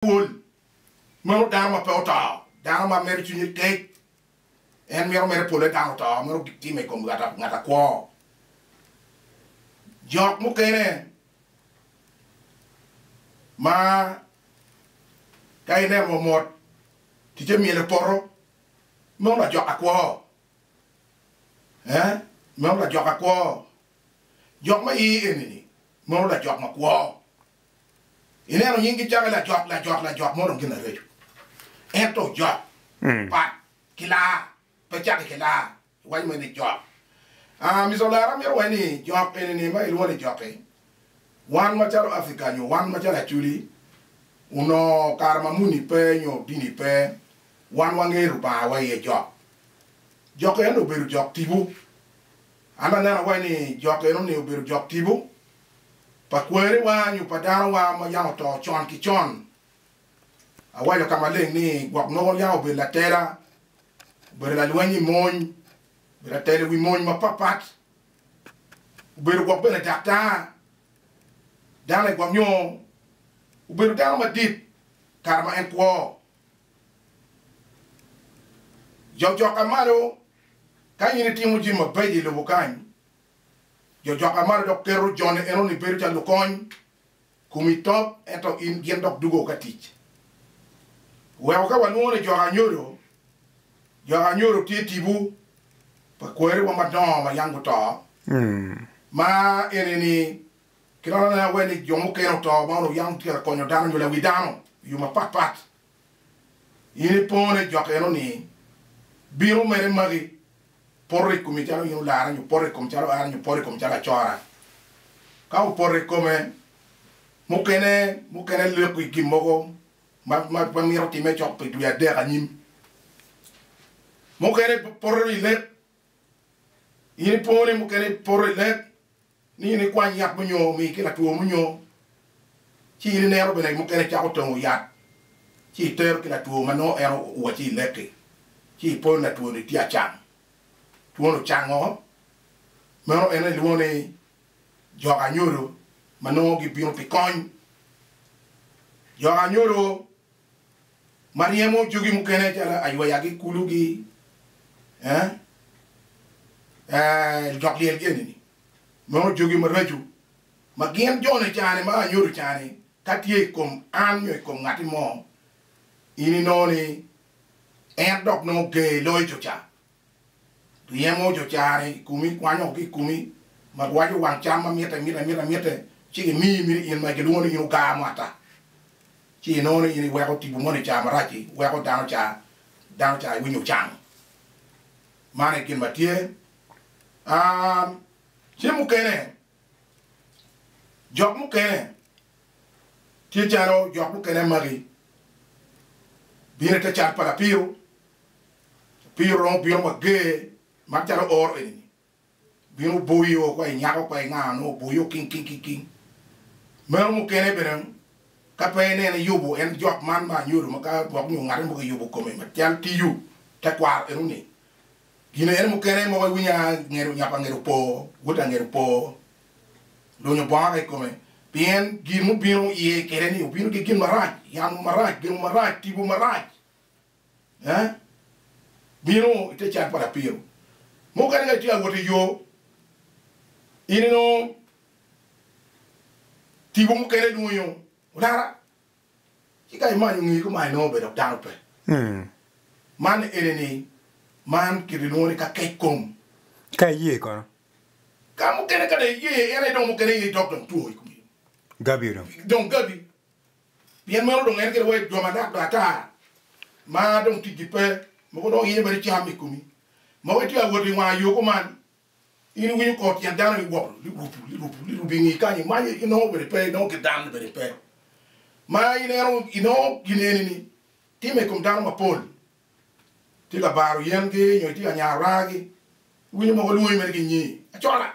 pol meno dano ma pe oto, dano ma mere cwinye kec, en mito mere pole dang oto, mito time i kom ngat akwo. Jok mukene ma ka ineno omot ticce myel i poto, meno lajok akwo, ee meno lajok akwo, jok ma i iye eni-ni meno lajok makwo. Ineno nyingi calo lajot, lajot, lajot mo dong gin areco. Ento ojot pat ki laa, pe cake ki laa. Iwaco mere ni jok. Aa, Mister Olara amito wai ni jok eni ni ma ilwongo ni jok-ki, wan macalo Africa nyo wan macalo Acholi, onongo kare ma muni pe nyo dini pe, wan wangeyo Lubanga wa iye jok. Jok eno obedo jok tibu. An aneno wai ni jok eno ni obedo jok tibu. pa kwerewa nyo pa danowa ma yam oto con ki con. Awaco ka maleng ni gwok nongo yam obedo latela, obedo lalweny i mony, obedo latela i wi mony mapatpat, obedo gwok bene daktar, dano i gwok nyo obedo dano madit kare ma en kwo. Jok jok ka malo, ka in itimo jami mabeco i lobo kany, Jo coka malo dok keto jone enoni bedo calo lukony. Komi top ento in gin dok dugo ka tic. Weko ka walwongo ni joka anyodo, joka anyodo tye tipo pa kwariwa madongo ma yam guto. Ma enini kilolone awe ni jo mukene oto ma onongo yam tye ka konyo dano nyo lawi dano i yo mapatpat. In ipongo ni jok eno ni bino mere magi, poto i komi calo in olara nyo poto i kom calo an nyo poto i kom calo acora. Ka opoto i kome, mukene mukene leko i gin mogo ma ma mito time cok pi dwe adek anyim. Mukene poto i lek, in ipongo ni mukene ipoto i lek, ni in ikwany yat munyo omi ki latwo munyo, ci in inero bene mukene cako tongo yat, ci itero ki latwo ma nongo en owacci ilek-ki, ci ipon latwo-ni tye acam, twone ocango, meno en aye ilwongo ni jok anyodo ma nongo gibino pi kony. Jok anyodo. ma ryemo jogi mukene calo aywayagi, kulugi, ee, ee, lujok lyel gi eni-ni, nongo jogi maraco ma gin jone cani ma anyodo cani ka tye i kom an nyo i kom ngatti mo, in inongo ni en dok nongo ger loyo jo ca. Ryemo oco carre i komi, kwanyo ki i komi, ma giwaco wang cam ma mitte, mitte, mitte, mitte, ci gimiyi, miti in ma gilwongo ni in ogaa mo ata, ci inongo ni in iweko tipo moni ca marac-ci weko dano ca, dano ca iwinyo ocang. Man aye gin ma tye. Aa, ce mukene, jok mukene, tye calo jok mukene magi bino i te cat pa lapiro, Opii oromo bino wa ger ma calo oro eni ni bino boyi o kwa i nyako kwa i nga nongo oboyi o king king king king meno mukene bene ka pe inene yubu en jok man ma anyodo ma ka gwok nyo ngate mogo yubu kome ma cal tiyu tekwaro eno ni gin ene mukene mogo iwinyo a ngedo nyap angedo opo wod angedo opo lunyo bongo ka ikome pien gin mubino iye kede ni obino ki gin marac yamo marac gengo marac tibu marac. bino i te can pa lapiro mo kadi ka itye ka wot i yo, in inongo tipo mukene ilwonyo olara ci ka imanyo nge ko ma inongo obedo dok dano pe. Man eni ni man kit ilwongo ni ka kec kom. Ka iye kono? Ka mukene ka dong iye en aye dong mukene in idok dong two i kom. Gabi dong. Dong gabi. Pien meno dong en kede wa i dwoma dok baa ata, ma dong ticgi pe, mogo dong iyenyo bene cam i komi. Mogo itye ka wot i wanga yo kuman, in iwinyo kor tyen dano ni wop, lirupu, lirupu, lirupu i ngi kany, imanyo, inongo bene pe, inongo kit dano-ni bene pe. Ma ineno, inongo gin eni-ni timme i kom dano mapol, itye ka baro yengi nyo itye ka nyaro raa-gi, iwinyo mogo lwonyi mere ki nyi, Acola!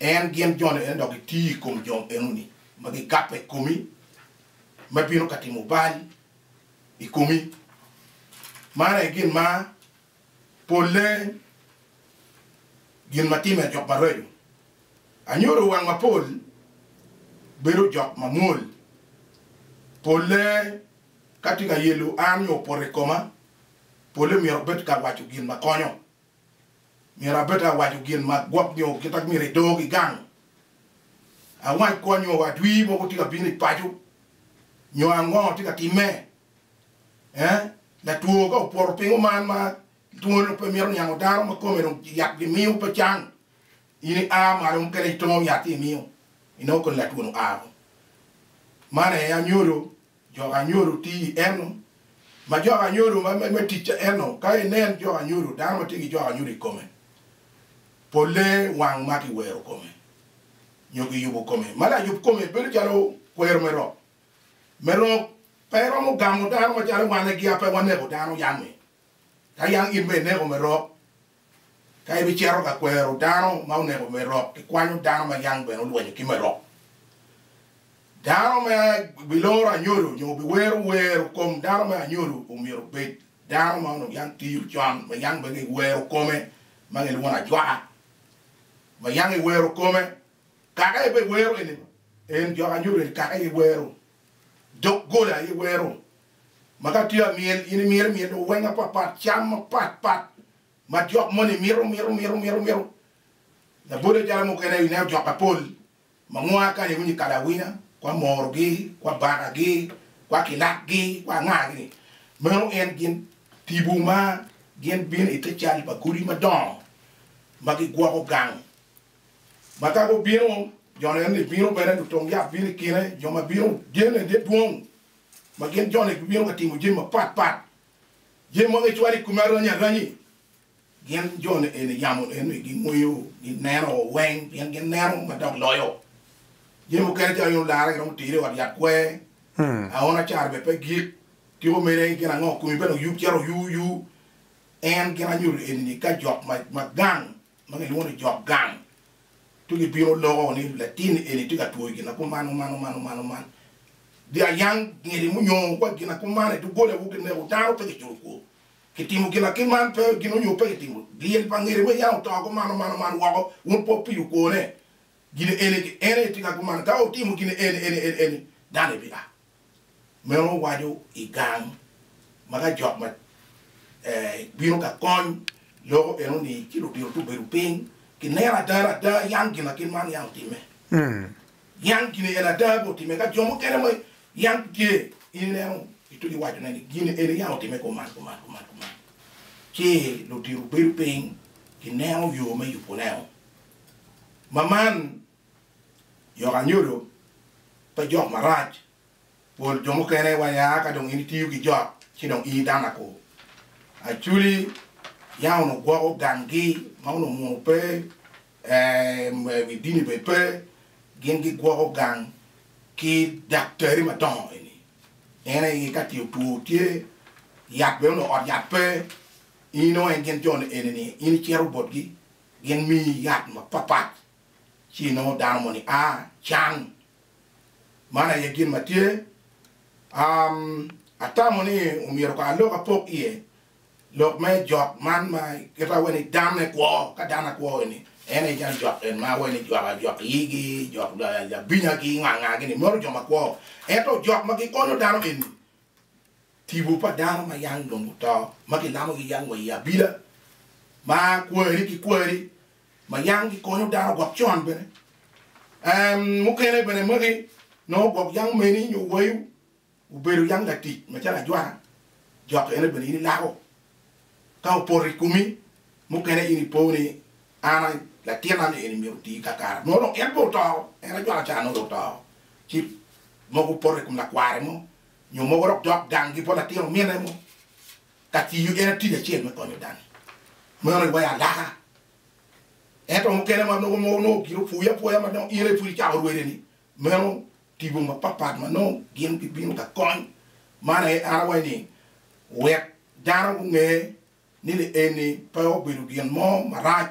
En gin jone ene dok gitiyo i kom jo enoni ma gigabbe i komi, ma bino ka timo bal i komi. Man aye gin ma polle gin ma timme jok maraco. Anyodo wang mapol bedo jok mamwol. Polle ka tye ka yelo an nyo opoto i koma, polle myero obed ka waco gin ma konyo. Myero abed awaco gin ma gwok nyo kit ma myero edo ki gang, awac kwan nyo wadwi mogo tye ka bino i paco nyo ango tye ka timme. Ee, latwo ka opoto pingo man ma twone dong pe mito niango dano ma kome dong yat gimiyo pe cang, in ia malo mukene itongo yat ci imiyo, inongo kodi latwo-nu aa woko. Man aye anyodo. Jok anyodo tye i eno. Ma jok anyodo me tic eno, ka inen jok anyodo, dano ma tye ki jok anyodo i kome, polle wang ma kiwero kome nyo kiyubo kome. Ma layub kome bedo calo kwero me rok. Me rok pe romo gamo dano macalo wan egiya pe waneko dano yam-mi, ka yam in bene ineko me rok. Ka ibicito ka kwero dano ma oneko Merok, ikwanyo dano ma yang bene olwenyo ki Merok. Dano ma biloro anyodo nyo biwero wer kom dano me anyodo omyero obed dano ma onongo yang tiyo con, ma yang bene giwero kome, ma gilwongo ni ajwaka, ma yang giwero kome. Kaka en bene wero eni, en jok anyodo eni kaka en wero. Doggola aye wero ma ka tye amyel in imyero imyel owenge apapat, cam mapat pat ma jok moni mito mito mito mito mito. Labode calo mukene ineno jok apol ma nwa kani iwinyo i kalawina kwa morogi, kwa bakagi, kwa kilakgi, kwa angagi-ni, meno en gin tipo ma gin bino ite cal pa godi madongo ma gigwoko gang ma ka gubino, jone enni bino bene, lutong yat bino i kine, jo ma bino gene tye dwong, ma gin jone gibino ka timo jami mapat pat. Jami ma gicwalo i kome arany aranyi, gin jone eni yamo enni gingweyo, gineno weng, pien gineno ma dok loyo. Jami mukene calo yono lara giromo tero i ot yat kwer, aona acara bene pe gik, tiko mene gin ango, komi bene oyub cito oyuu yuu. En gin anyuto enini ka jok ma gang ma kilwongo ni jok gang ci gibino loko ni latin eni tye ka twoyo gin akuman oman oman oman oman, dye ayang ngidi munyongo wa gin akuman i doggola wu kineko dano pe kiculo kwo kitimo gin akiman pe gin onyo pe kitimo dyel pa ngidi me yam oto akuman oman oman woko wun pe wupiyo kwone gin eni ki en aye tye ka kuman ka wutimo gin eni eni eni eni dano ni bia. meno waco i gang ma ka jok ma bino ka kony loko eno ni ci ludito to bedo piny ki neno ada ada yam gina kit man yam otimme yam gini eni ada be otimme ka jo mukene ma yam tye in ineno ituco waco ne ni gini eni yam otimme kuman kuman kuman kuman ci ludito bedo piny ki neno yo me yuboneo ma man Yok anyodo pe jok marac. Pol jo mukene wa ya ka dong in itiyo ki jok ci dong in idano ako. Aculi yam onongo gwoko ganggi ma onongo munu pe ee wi dini bene pe, gin gigwoko gang ki daktari madongo eni. En aye ka ce otwo tye yat bene onongo ot yat pe, in inongo en gin jo-ni eni-ni in icito botgi gin miyi yat mapapat. ci inongo dano moni a can. Man aye gin ma tye. Um, atamo ni omyero kong alok apok iye lok me jok man ma kit awe ni dan ne kwo, ka dan akwo ni en aye jang jok en ma awe ni jok ajok iyigi, jok labinya gi nganga gi ni maro jo makwo. Ento jok ma gikonyo dano eni Tipo pa dano ma yam dong guto ma ginamogi yam wa i abila ma kwari ki kwari ma yam gikonyo dano gwok con bene. Mukene bene magi nongo gwok yam omeni nyo wayu obedo yam latic macalo ajwana, jok ene bene in ilako Ka opoto i komi, mukene in ipo ni, 'An latina ni eni myero oti kakare. Nongo dong en pe oto, en aye cwaka ca nongo dong oto. Ci mogo opoto i kom lakware mo, nyo mogo dok dok gangi bot latin omine mo ka tiyo en tic acel me konyo dani. Meno i waya alaka. Ento mukene ma nongo gin opwoyi apwoya ma nongo in aye pud icako rwede-ni, meno Tipo mapatpat ma nongo gin gibino ka kony man aye an awaco ni wek dano gunge ni lienni pe obedo gin mo marac